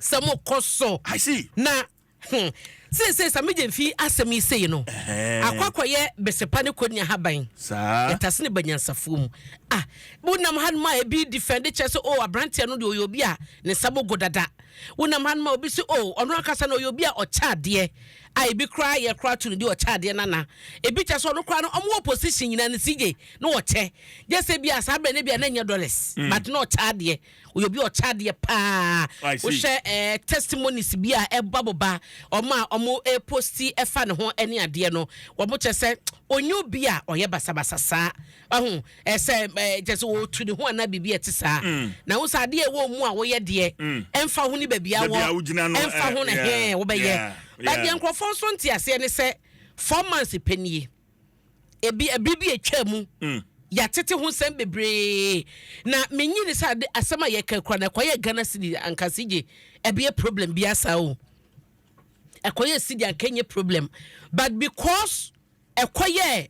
sɛ mo kɔ so na hmm, seesei sa megye mfi asɛm yi sei no akɔ akɔyɛ besepa ne kɔni ahaban yɛtase ne banyansafoɔ mu ah wonam hanom a ebi di fɛn de kyerɛ sɛ o oh, aberanteɛ no deɛ ɔyɛ obi a ne nsa bɔgo dada wonam hanom a obi sɛ o oh, ɔno ankasa na ɔyɛ obi a ɔkyɛ adeɛ a ebi koraa yɛ koraa to no di ɔkyɛ adeɛ nana ebi kyɛ sɛ ɔno koraa no ɔmo wɔ position nyinaa ne sigye na ɔkyɛ gyɛ sɛ bi a saa abirɛ ne bi a na nyɛ dollars mm. but na ɔkyɛ adeɛ Woyɛ obi a ɔkyɛ adeɛ paa. Wohwɛ eh, testimonies bi a ɛba mo ba ɔmo a ɔmo eh, posti ɛfa ne ho ɛne adeɛ no wɔn kyɛ sɛ onye obi a ɔyɛ basabasa saa ɔho ɛsɛ eh, kyɛ sɛ wɔtu ne ho anaa biribi a ɛte saa mm. na wo sɛ adeɛ ɛwɔ mu a woyɛ deɛ mm. ɛmfa ho ne baabi a wɔ ɛmfa ho na hɛn wobɛyɛ badeɛ nkurɔfoɔ nso nte aseɛ ne sɛ four months pɛ nie Ebia bere bi a etwaa mu, mm. yɛatete ho nsɛm bebree na menyi ne sɛ ade asɛm a yɛka kura na ɛkɔyɛ ghana sidi anka sigye ɛbɛyɛ problem bi asa o ɛkɔyɛ sidi anka nyɛ problem but because ɛkɔyɛ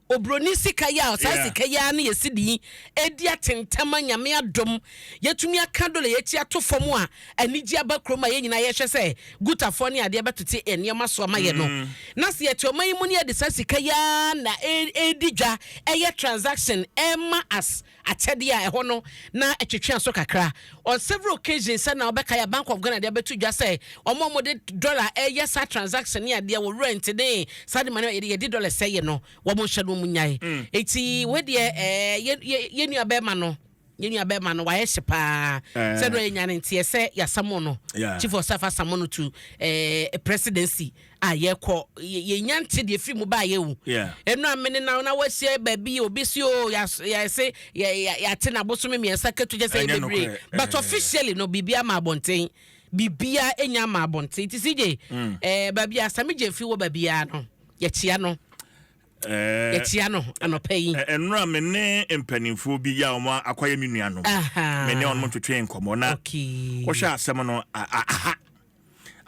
obroni sika yɛ a ɔsaa sika yɛ a ne yɛsi di edi atentama nyame adom yɛtumi aka dɔla yɛti ato fam a anigye aba kurom a yɛn nyinaa yɛhwɛ sɛ gutafoɔ ne adeɛ bɛtete yɛn nneɛma so ama yɛn no mm. na sɛ yɛte ɔman yi mu ne yɛde saa sika yi ara na ɛredi dwa ɛyɛ transaction ɛma as akyɛdeɛ a ɛhɔ no na ɛtwetwe aso kakra on several occasions sɛ na wɔbɛka yɛ bank of ghana deɛ bɛto dwa sɛ wɔn a wɔde dollar ɛyɛ saa transaction ne adeɛ wɔ rent ne saa de ma no yɛde dollar sɛ yɛ no wɔn nhyɛ no wɔn nyae mm. eti wɔdeɛ ɛɛ yɛ yɛ yɛ nua bɛrima no. Yɛn nua bɛɛma no wayɛ hye paa sɛ dɛ ɔyɛ nyane nteɛ sɛ yasamo no chief of staff asamo no to eh, presidency a yɛkɔ yɛnya nte deɛ firi mu baayɛ o ɛno a mene na na wahyia baabi obi si o yɛse yɛate na bosome mmiɛnsa katu kyɛ sɛ yɛbɛbire but officially no biribi ama abɔnten biribiara ɛnya ama abɔnten nti si gye mm. eh, baabi a same gyemfi wɔ baabiara no yɛkyia no yɛkyia no anɔpa yi. Ɛnora me ne mpanimfoɔ bi yɛ a wɔn akɔyɛ me nuanom. Me ne wɔn twetwe nkɔmmɔ na wɔhwɛ asɛm no aha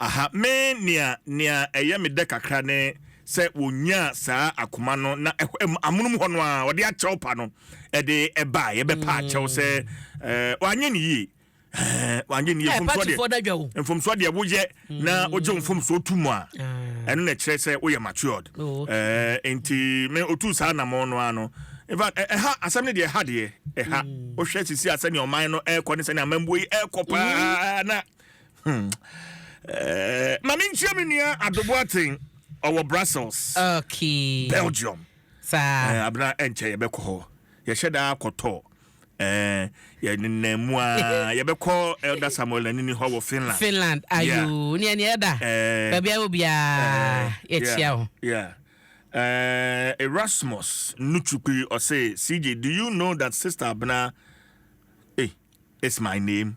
aha me nea nea ɛyɛ me dɛ kakra ne sɛ wɔnyaa saa akoma no na amonom hɔ no a wɔde akyɛw pa no ɛde ɛbaa yɛbɛpa akyɛw sɛ wɔanyɛ ne yie wagye ne yɛ mfomsoɔ deɛ mfomsoɔ deɛ woyɛ na mm. wogye mfomsoɔ tu mu a ah. ɛno na ɛkyerɛ sɛ woyɛ matured oh, nti me otu saa namɔ no ara no infact ɛha asɛm no deɛ ɛha deɛ ɛha mm. wohwɛ sisi a sɛnea ɔman no ɛrekɔ ne sɛnea amambuo yi ɛrekɔ paa mm. na hmm. mame nkyia me nua adobo aten ɔwɔ brussels belgium abena ɛnkyɛ yɛbɛkɔ hɔ yɛhyɛ daa kɔtɔ Eh, yɛ nenam mu a yɛbɛkɔ Elder Samuel Nanini hɔ wɔ Finland. Finland, ayo, nea nea ɛda. Eh, Baabi a obiara eh, yɛkyia yeah, wo. yeah. Eh, Erasmus Nuchukwi ɔse, CJ, do you know that Sister Abena eh, is my name?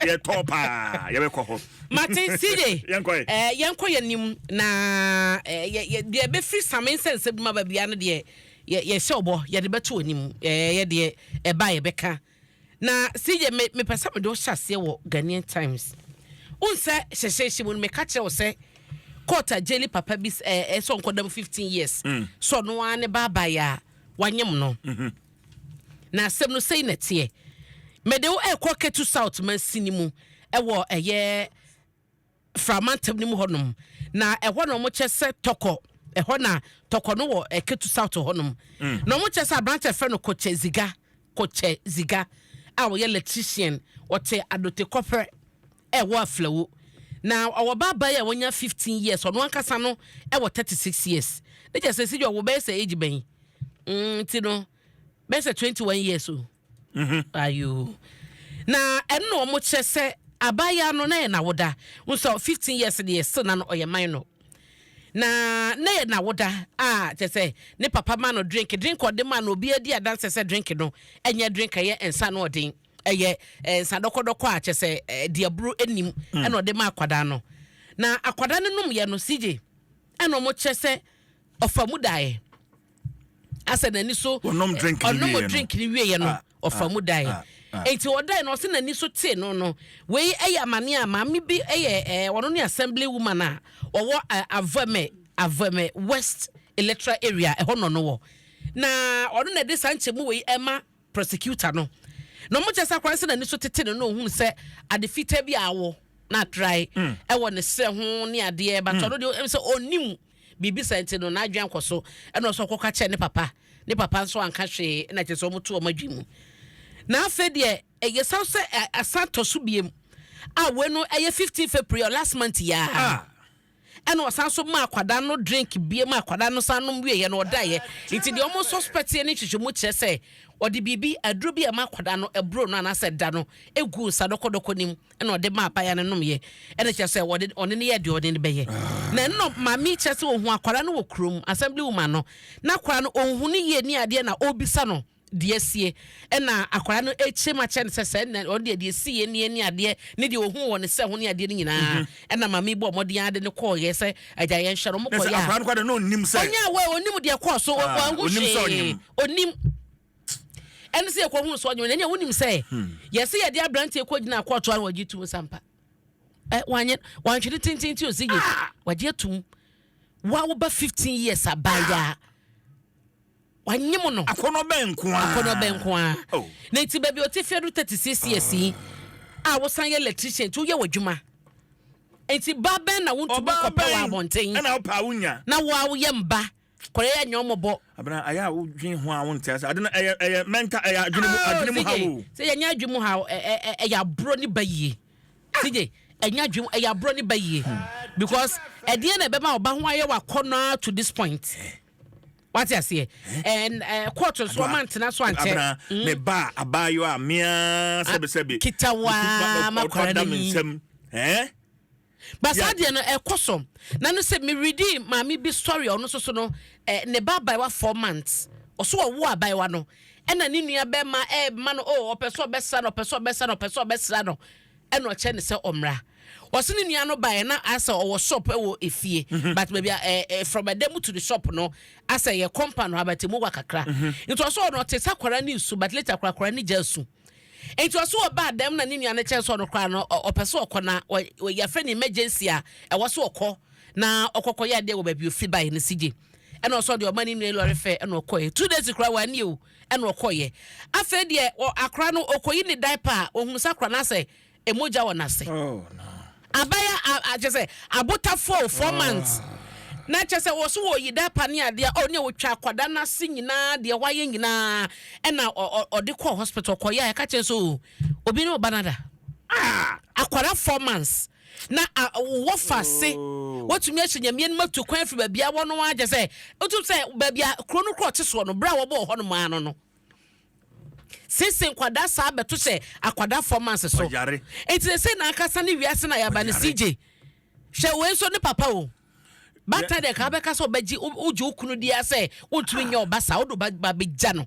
Yɛ tɔɔ paa yɛbɛ kɔ hɔ. Mate CJ ɛɛ yɛnkɔ yɛ nim na ɛɛ yɛ deɛ bɛ firi same nsɛ nsɛ bi ma ba bia no deɛ yɛ yɛ hyɛ ɔbɔ yɛ de bɛ to anim ɛɛ yɛ deɛ ɛba yɛ bɛ ka na CJ me me pɛ sɛ me de ɔhyɛ aseɛ wɔ Ghanaian Times o nsɛ hyɛhyɛ hyɛ mu no me ka kyerɛ ɔsɛ court a jeli papa bi ɛɛ ɛsɛ ɔnkɔ dam fifteen years mm. so ɔno ara ne baaba yɛ a wanyem no. Mm -hmm. Na asɛm no sei na ɛteɛ, Mede wo rekɔ Ketu South mansini mu wɔ ɛyɛ Fra mantam no mu hɔnom, na ɛhɔ na wɔkyɛ sɛ tɔkɔ, ɛhɔ na tɔkɔ no wɔ eh, Ketu South hɔnom. Mm. Na wɔkyɛ sɛ aberante ɛfrɛ no Kokyɛ Ziga, Kokyɛ Ziga a ɔyɛ electrician, ɔte Adote Kɔpɛ Ɛwɔ Aflao. Na ɔwɔ ba abae a wanya fifteen years, ɔno ankasa no wɔ thirty six years. Ne kyerɛ sɛ Sidjo wo bɛyɛ sɛ age bɛn? Mm, nti no bɛyɛ sɛ twenty one years o. Mhm. Ayoo. Na ɛno na wɔn kyerɛ sɛ abaayaa no na yɛ nawoda. Wohu sɛ fifteen years deɛ still na no ɔyɛ minor. Na na yɛ nawoda a kyerɛ sɛ ne papa ma no drink, drink a ɔde ma no obiara di adanseɛ sɛ drink no ɛnyɛ drink a ɛyɛ nsa ano ɔden. ɛyɛ eh, nsa dɔkɔdɔkɔ a kyɛ sɛ eh, deɛ boro nim hmm. ɛna ɔde ma akwadaa no na akwadaa no nom yɛ no sigye ɛna wɔn kyerɛ sɛ ɔfa mu daeɛ asɛ n'ani so ɔnom eh, drink ne wie yɛ no ah, ɔfa ah, mu daeɛ ah, nti ɔdae no ɔsɛ n'ani so tee no no wei ɛyɛ amane a maame bi ɛyɛ ɛɛ ɔno ne assembly woman a ɔwɔ ɛɛ avɛmɛ avɛmɛ west electoral area ɛhɔ nɔ no wɔ na ɔno na ɛde saa nkyɛn mu wei ɛma. prosecutor no na ɔmo kyɛ sɛ akora sɛ n'ani so tete no na ohun sɛ ade fitaa bi a awɔ na atrae mm. ɛwɔ ne srɛ ho ne adeɛ but mm. ɔno deɛ ɛm sɛ ɔnim biribi sɛ nti no n'adwene kɔ so ɛna ɔsɔ kɔka kyɛ ne papa ne papa nso anka hwee ɛna kyɛ sɛ ɔmo to ɔmo adwi mu na afei deɛ ɛyɛ san sɛ asan tɔ so biem a wɔn no ɛyɛ fifteen february last month yaa. Ah. Ɛna ɔsan nso maa akwadaa no drink bie ma akwadaa no san nom wieeɛ no ɔdaeɛ. Nti deɛ wɔn sɔspɛteɛ ne nhwehwɛmu kyerɛ sɛ ɔde biribi, aduro bi a ɛma akwadaa no ɛboro no anaasɛ ɛda no guu nsa dɔkɔdɔkɔ no mu ɛna ɔde maa abaayewa no nomeeɛ. Ɛna kyerɛ sɛ ɔde ɔne no yɛɛ deɛ ɔne no bɛyɛ. Na ɛno na maame yi kyerɛ sɛ ɔhuu akwadaa no wɔ kurom, assembly woman no, na akwadaa no ɔnhu no yie ne adeɛ na ɔrebisa no. deɛ asie ɛna akwadaa no ɛkyerɛm akyerɛ no sɛ sɛ ɛna ɔno deɛ deɛ ɛsi yɛ nie ne adeɛ ne deɛ ɔhu wɔ ne sɛ ho ne adeɛ no nyinaa mhm. ɛna maame bɔ ɔmɔden ade ne kɔɔyɛ sɛ agya yɛn hyɛ no ɔmo kɔyɛ a akwadaa no kɔ de no ɔnim sɛ ɔnyɛ awɔ ɔnim deɛ kɔɔ so ah, ɔhu hwee ɔnim ɛne sɛ yɛkɔ hu sɛ ɔnyɛ ɛnyɛ wonim sɛ hmm. yɛsɛ yɛde aberanteɛ kɔ gyina akɔɔtoa no wɔgye tum sampa ɛ wanyɛ wantwene tenten ti ɔsi yɛ ah! wɔgye atum wa woba fifteen years abayaa. Wanye mo no. Akɔnɔ bɛn nko ara. Akɔnɔ bɛn nko ara. Oh. Na nti baabi ɔte fie do thirty six years yi. Ah. A wosan yɛ electrician nti woyɛ w'adwuma. Nti ba bɛn na wontumi kɔpɛ wɔ abɔnten. Ɛna wopɛ a wonya. Na wo a woyɛ mba kɔrɛ yɛ nyɛ ɔmɔbɔ. Abena ayɛ a wodwen ho a wonte ase. Ade no ɛyɛ ɛyɛ mental ɛyɛ adwene mu adwene mu haw o. Sɛ yɛ nyɛ adwene mu haw ɛ ɛ ɛ ɛyɛ aborɔ ne ba yie. Sigye ɛnyɛ adwene mu ɛyɛ aborɔ ne ba yie because ɛdeɛn na ɛbɛma ɔba ho ayɛ w'akɔnɔ ara to this point. wate aseɛ kɔɔto nso ɔma ntena so ankyɛ abena mm. me ba abaayewa a mea sɛbesɛbe ah, kitawaa makwara no yi basa deɛ no ɛkɔ so na no sɛ meredi maame bi story ɔno nso so no ne ba abaayewa four months ɔso ɔwo abaayewa no ɛna ne nua bɛma ɛma no o oh, ɔpɛ sɛ ɔbɛsra no ɔpɛ sɛ ɔbɛsra no ɔpɛ sɛ ɔbɛsra no ɛna ɔkyɛ ne sɛ ɔmmra ɔse ne nua no baeɛ na asɛ ɔwɔ shop wɔ efie mhm. but baabi a eh, eh, from ɛdɛ mu to the shop no asɛ yɛ compound hɔ abɛte mu wa kakra mhm. nti ɔsɛ ɔno ɔte sa kwara ne nsu but later kwara kwara ne gya su nti ɔsɛ ɔba dɛm na ne nua no kyɛn sɛ ɔno koraa no ɔpɛ sɛ ɔkɔ na yɛfrɛ ne emergency a ɛwɔ so ɔkɔ na ɔkɔkɔ yɛ adeɛ wɔ baabi ofi baeɛ no si gye ɛna ɔsɛ ɔde ɔma ne nua lɔre fɛ ɛna ɔkɔɛ two days koraa wɔ ani o ɛna ɔkɔeɛ afei deɛ wɔ akora no ɔkɔyi ne diaper a ɔhunu sɛ akora no asɛ ɛmogya wɔ n'ase abaya akyɛ sɛ abotafoɔ four months na kyɛ sɛ wɔ so wɔ yi diaper ne adeɛ ɔ ne a wɔtwa akwadaa no ase nyinaa deɛ wɔayɛ nyinaa ɛna ɔde kɔɔ hospital kɔyɛ a ɛka kyɛ sɛ obi ne ɔba no ada akwadaa four months na a wɔ fa se wɔtumi ahyɛ nyameɛ no mu atu kwan afiri baabi a wɔ no ara kyɛ sɛ wotum sɛ baabi a kuro no korɔ te soɔ no berɛ a wɔbɔ wɔ hɔ nom ara no no sese nkwadaa saa bɛto hyɛ akwadaa fɔ manse so nti sɛ na ankasa ne wiase na yɛaba no sigye hwɛ wei nso ne papa o bata deɛ ka bɛka sɛ ɔbɛgye wogye wo kunu deɛ sɛ wontumi nyɛ ɔba saa wode ba bɛgya no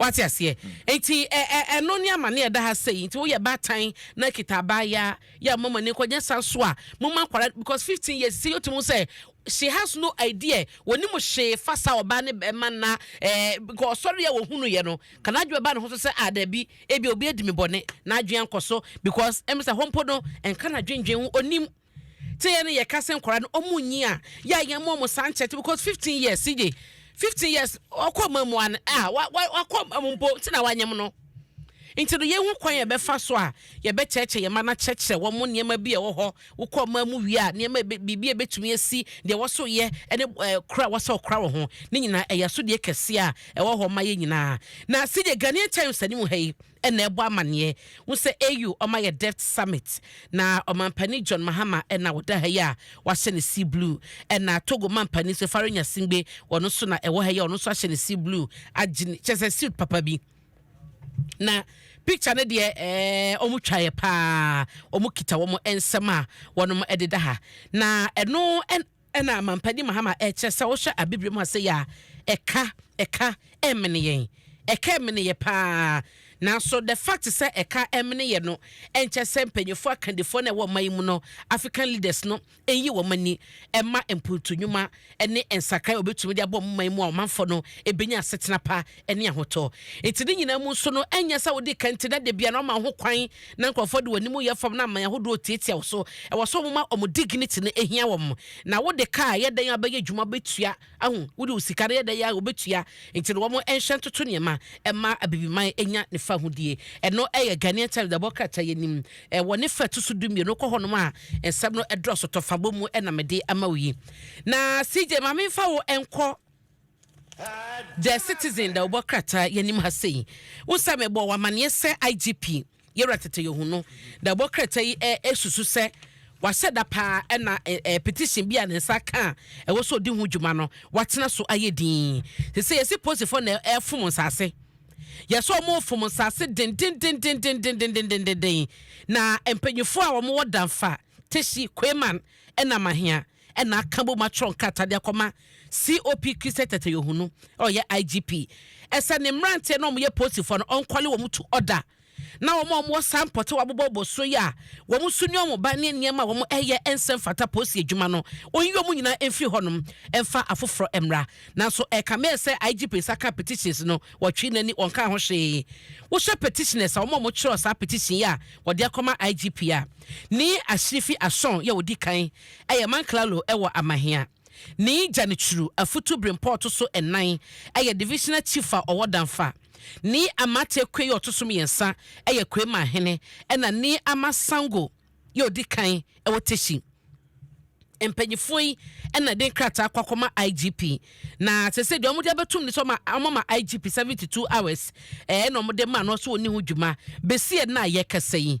Wate aseɛ? Nti ɛ ɛ ɛno ne amane ɛda ha sɛi. Nti woyɛ baatan na kita abaayaa yɛ a moma moani nkɔ nyɛ saa so a moma akwadaa because fifteen years sisei yɛtumi hu sɛ she has no idea wɔnim hwee fa saa ɔbaa ne bɛɛma na ɛ nka ɔsɔre a wɔhunuiɛ no ka n'adwene ba ne ho so sɛ a daabi ebia obi adi me bɔne n'adwene ankɔ so because ɛm sɛ hɔ mpo no ɛnka n'adwendwen ho ɔnim Sɛ yɛn ne yɛka sɛ nkwadaa no wɔn nyi a, yɛ a yɛn mo wɔn saa nkyɛn because fifteen years CJ fifteen years ɔkɔ mma mu an a wa wa wakɔ mma mu mpo nti na wanyam no nti no yɛn ho kwan yɛ bɛfa so a yɛ bɛ kyerɛkyerɛ yɛn mma na kyerɛkyerɛ wɔn mo nneɛma bi a ɛwɔ hɔ wokɔ mma mu wie a nneɛma biribi a ebetumi esi deɛ wɔso yɛ ɛne ɛɛ kora wɔsɛ ɔkora wɔ ho ne nyinaa ɛyɛ so deɛ kɛseɛ a ɛwɔ hɔ ma yɛn nyinaa na CJ Ghanaian Times anim ha yi. na ɛbɔ amaneɛ ho sɛ AU ɔma yɛ deft summit na ɔmampanin John Mahama na ɔda ha yi a wahyɛ ne sea blue ɛna Togo mampanin nso Faure Gnassingbé ɔno nso na ɛwɔ ha yi a ɔno nso ahyɛ ne sea blue agye ne kyɛ sɛ suit papa bi na picture no deɛ ɛɛ wɔn twaeɛ paa wɔn kita wɔn nsɛm a wɔn de da ha na ɛno ɛn. Ɛna Mampadi Mahama ɛkyerɛ sɛ wohwɛ abibire mu a sɛ yɛ a ɛka ɛka ɛmene yɛn ɛka ɛmene yɛ paa nanso the fact sɛ ɛka ɛmene yɛ no ɛnkyɛ sɛ mpanyinfoɔ akandifoɔ na ɛwɔ ɔman yi mu no African leaders no ɛnyi wɔn ani ɛma mpuntu nnwuma ɛne nsakrae a wɔbɛtumi de abɔ wɔn man mu a ɔmanfoɔ no ɛbɛnya asetena pa ne ahotɔ. Enti ne nyinaa mu nso no, ɛnyɛ sɛ wode ka nti na da biara na wɔma wo ho kwan na nkurɔfoɔ de wɔn anim yɛ fam na aman ahodoɔ tiatia wo so. Ɛwɔ sɛ wɔma wɔn dignity no ɛhia wɔn. Na wode kaa a, ɛyɛ dɛn a wobɛyɛ adwuma wobɛtua, ahu? Wode wo sika no, ɛyɛ dɛn a wobɛtua? Enti no wɔn nhyɛ ntoto nneɛma mma Abibiman nya ne fahodie. Ɛno yɛ Ghanaian Times dabɔ krataa yi anim wɔ ne fa a ɛto so du mmienu. Kɔ hɔnom a nsɛm no dɔɔso tɔfa bɔ mu na mede ama wo yi. Na CJ, ma memfa wo nkɔ. The Citizen da ɔbɔ krataa yi anim ha sei. Wo sɛ mebɔɔ wo amanneɛ sɛ IGP Yawura Tete Yoho no da ɔbɔ krataa yi susu sɛ wahyɛ da paa na petition bi a ne nsa ka a ɛwɔ sɛ ɔdi ho dwuma no watena so ayɛ din. Te sɛ yɛsi posifoɔ na ɛfom nsase. Yɛsɛ wɔn refom nsase dendendendendendendendenden na mpanyinfoɔ a wɔn wɔ danfa Teshie Quayman na Mahia na aka bom atwerɛ nkrataa de akɔma COP Christian Tatayohunu a ɔyɛ IGP sɛ ne mmeranteɛ na wɔyɛ polisifoɔ no ɔnkɔle wɔn to ɔda na wɔn a wɔwɔ saa mpɔte a wɔabobɔbobɔ soɔ yi a wɔn so nni wɔn ba ne nneɛma a wɔyɛ nsa mfata polisi adwuma no wɔnyi wɔn nyinaa mfiri hɔnom mfa afoforɔ mmra nanso ɛkame sɛ IGP nsa ka petitions no wɔtwee n'ani wɔnkaa ho hwee wohwɛ petitioners a wɔn a wɔtwerɛ saa petition yi a wɔde akɔma IGP a Ni ahyiri fi asɔn yɛ odi kan yɛ man Claro wɔ Amahia. Ni Janichuru afutu berempɔ ɔto so nnan yɛ divisional chief a ɔwɔ Danfa. Ni Amate Kwei ɔto so mmiɛnsa yɛ Kwei manhene ɛna Ni Ama Sango yɛ odi kan wɔ Teshi. Mpanyinfoɔ yi na de nkrataa kɔ akɔma IGP na sese deɛ wɔn de abɛtum ne sɛ wɔn ama IGP seventy two hours ɛna wɔn de ma no so wɔn ni ho dwuma besi ɛna yɛkasa yi.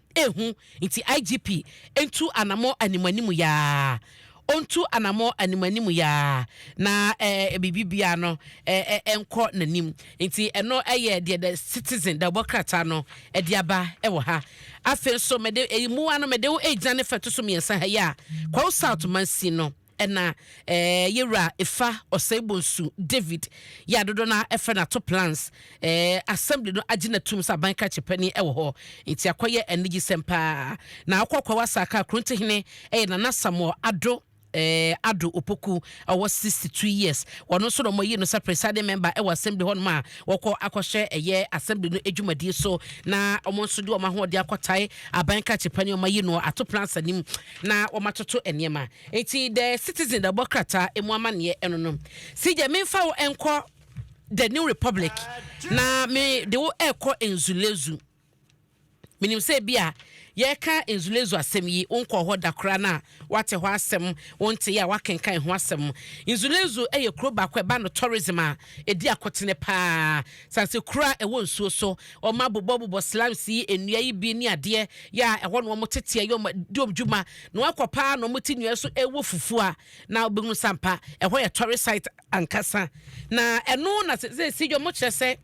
ehu nti IGP ntu anamɔ anim anim yaa ontu anamɔ anim anim yaa na ɛɛ biribi biara no ɛɛ ɛnkɔ n'anim nti ɛno ɛyɛ deɛ the citizen the ɔbɔ krataa no ɛde aba ɛwɔ ha afei nso mɛde ɛyi mua no mɛde wo egyina ne fɛto so mmiɛnsa ha yi a kwawu south mansin no. Ɛna eh, yɛ wura efa ɔsɛe bonsu David, yɛ a dodoɔ no ara ɛfrɛ no ato plans eh, assembly no agye no atum sɛ aban krakye panin ɛwɔ hɔ, nti akɔyɛ anigyesɛm paa. Na wokɔ Kwawo Asaka a Krontohene ɛyɛ Nana Samuel Addo eh, Addo Opoku a ɔwɔ 62 years, ɔno nso na wɔayi no sɛ presiding member ɛwɔ assembly hɔ nom a wɔkɔ akɔhwɛ ɛyɛ assembly no adwumadie so na wɔn nso de wɔn ahoɔden akɔtae aban krakye panin a wɔayi no ato plans anim na wɔatoto nneɛma. Ntsi dɛ citizen dɛ bɔ krataa mu amanneɛ ɛno no si gyɛ menfa wo nkɔ the new republic na me de wo ɛkɔ nzulezu menim sɛ bi a yɛka nzulezu asɛm yi wo nkɔ hɔ da koraa na wate hɔ asɛm wo nte yɛ a wakenkan ho asɛm nzulezu ɛyɛ kuro baako ɛba no tourism a ɛdi akotene paa Sase koro a ɛwɔ nsuo so. Wɔn abobɔ bobɔ slimes yi nnua yi bi ne adeɛ yɛ a ɛhɔ na wɔn teteɛ yɛ wɔn di wɔn dwuma. Na wɔn akɔ paa na wɔn te nnua yi so ɛwɔ fufuo a na wobɛhunu sɛ ampa ɛhɔ yɛ tourist site ankasa. Na ɛno na sɛsɛsɛ yi wɔn kyerɛ sɛ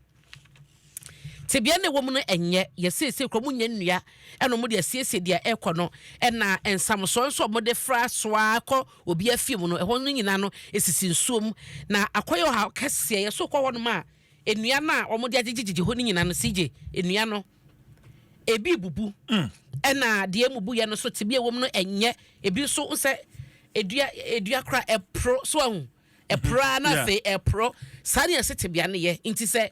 tebea na ɛwɔ mu no ɛnyɛ yɛ sɛsɛ kuro wɔn nyɛ nnua ɛna wɔn de asiesie deɛ ɛkɔ no ɛna nsamosoɔ nso wɔn de fra soa kɔ Obiara fie mu no, ɛhɔ no nyinaa no, esisi nsuo mu. Na akɔyɛ ɔhaw kɛseɛ. Yɛso kɔ hɔnom a, nnua no a wɔde agyegyegyegye hɔ no nyinaa no, CJ, nnua no, ebi rebubu. Ɛna deɛ emubuiɛ no so tebea a ɛwɔ mu no nyɛ. Ebi nso, wo sɛ edua, edua koraa, ɛporo. So ahu? ɛporɔ ara na afei ɛporɔ saa ne yɛse tebea no yɛ nti sɛ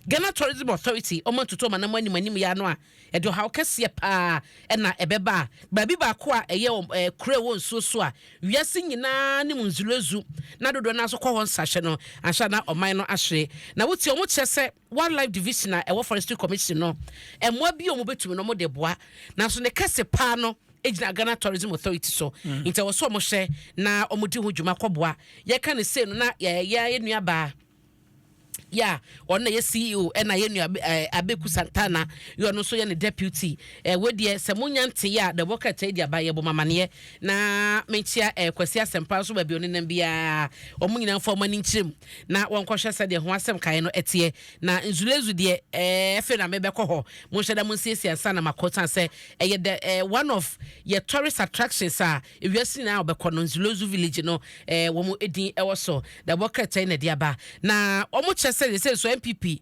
Ghana Tourism Authority ɔma ntutu ɔma nam anim anim yɛ ano a ɛde ɔhaw kɛseɛ paa ɛna ɛbɛba a baabi baako a ɛyɛ wɔn ɛɛ kura wɔ nsuo so a wiase nyinaa ne mu nzulezu na dodoɔ no nso kɔ hɔ nsahwɛ no anhyɛ na ɔman no ahwere na wotie wɔn kyerɛ sɛ Wildlife Division a ɛwɔ Forestry Commission no, mmoa bi a wɔbɛtumi no wɔde boa, nanso ne kɛse paa no gyina Ghana Tourism Authority so, mm. nti ɛwɔ sɛ wɔhwɛ na wɔdi ho dwuma kɔboa. Yɛka no sei no na yɛyɛ yɛ nuabaa ya ɔno na yɛ ceo ɛna yɛ nua eh, abeku santana yɛ ɔno nso yɛ ne deputy eh, ɛwɔ deɛ sɛ mo nya nte yɛ a dɛbɔ kɛtɛ edi aba yɛ bɔ mamaneɛ na menkyia ɛɛ eh, kwasi asɛmpa nso baabi ɔne nam biara wɔn nyinaa nfa wɔn ani nkyerɛ mu na wɔnkɔhwɛ sɛdeɛ ho asɛm kaeɛ no teɛ. Na Nzulezu deɛ, ɛɛ, afei na mebɛkɔ hɔ. Monhyɛ da, monsiesie ansa na makɔ, esiane sɛ ɛyɛ the, ɛɛ, one of yɛ tourist attractions a ewiase nyinaa wɔbɛkɔ no, Nzulezu village no, ɛɛ, wɔn din wɔ so. Na ɛwɔ Kɛrtɛn na ɛde aba. Na wɔkyɛ sɛ sɛ nso NPP,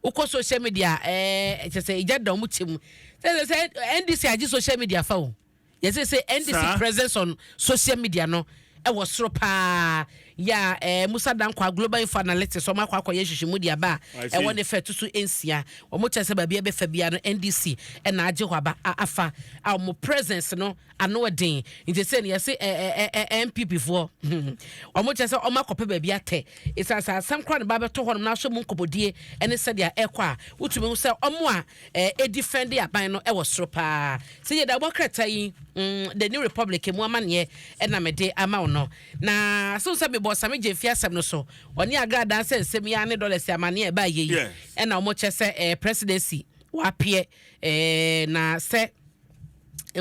wokɔ social media a, ɛɛ, kyerɛ sɛ egya da wɔn kyɛ mu. Sɛ sɛ NDC agye social media fa o. Yɛse se NDC presence on social media no ɛwɔ soro paa. Ya eh, Musa Dankwah, Global Info Analytics, wɔn akɔ akɔyɛ nhwehwɛmu de aba a ɛwɔ ne fɛ to so nsia. Wɔn kyerɛ sɛ baabi a ɛbɛfa biara no NDC na agye hɔ aba a afa a wɔn presence no ano den. Nti sɛ no yɛse eh, eh, eh, eh, eh NPP foɔ wɔn kyerɛ sɛ wɔn akɔpɛ baabi atɛ. Esan sɛ asɛm koraa na ba bɛtɔ hɔ nom na ahwɛ mu nkɔmɔdie ɛne sɛdeɛ ɛkɔ a wotumi hu sɛ wɔn a eh, defend aban no wɔ soro paa. Sɛ yɛda wobɔ krataa yi, mm, The New Republic mu amanneɛ ɛna mede ama wo no. Na so sɛ mebɔ Same Gyamfi asɛm no so, ɔne Agra dan sɛ nsɛm yi ne dollars amanneɛ ɛbaa yɛ yi, ɛna wɔkyɛ sɛ eh, presidency wapeɛ eh, na sɛ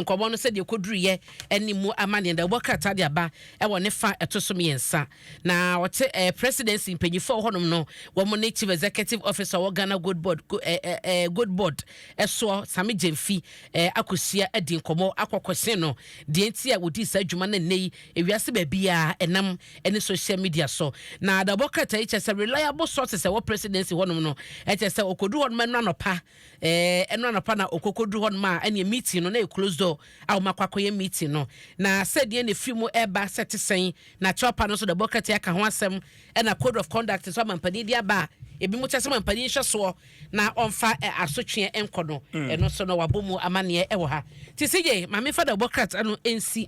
nkɔmmɔ no sɛdeɛ ɛkɔduruiɛ ne mu amanneɛ da wobɔ krataa de aba wɔ ne fa ɛto so mmiɛnsa na ɔte eh, presidency mpanyinfoɔ wɔ hɔnom no wɔn ne chief executive officer wɔ ghana gold board go, eh, eh, eh gold board ɛsoɔ same gyamfi eh, akɔhyia adi nkɔmmɔ akɔkɔhyɛn no deɛ nti a wɔdii saa adwuma no nnɛ yi ewiase baabiaa ɛnam ne social media so na da wɔbɔ krataa yi kyɛ sɛ reliable sources ɛwɔ presidency hɔnom no ɛkyɛ sɛ ɔkɔduru hɔnom ɛno anɔpa Eh, ɛno anɔpa na ɔkɔkɔduru hɔ nom a, ɛneɛ meeting no na ɛyɛ close door a wɔn akɔ akɔyɛ meeting no. Na sɛdeɛ na ɛfiri mu ɛreba sɛ ɛte sɛn, na CHOPA no nso de bɔkrati aka ho asɛm, ɛna code of conduct nso a mampanin de aba a ebinom kyerɛ sɛ mampanin nhwɛ soɔ na ɔmfa eh, asotweɛ nkɔ no, ɛno nso no wɔabɔ mu amanneɛ wɔ ha. Nti CJ, ma memfa da bɔkrat no nsi.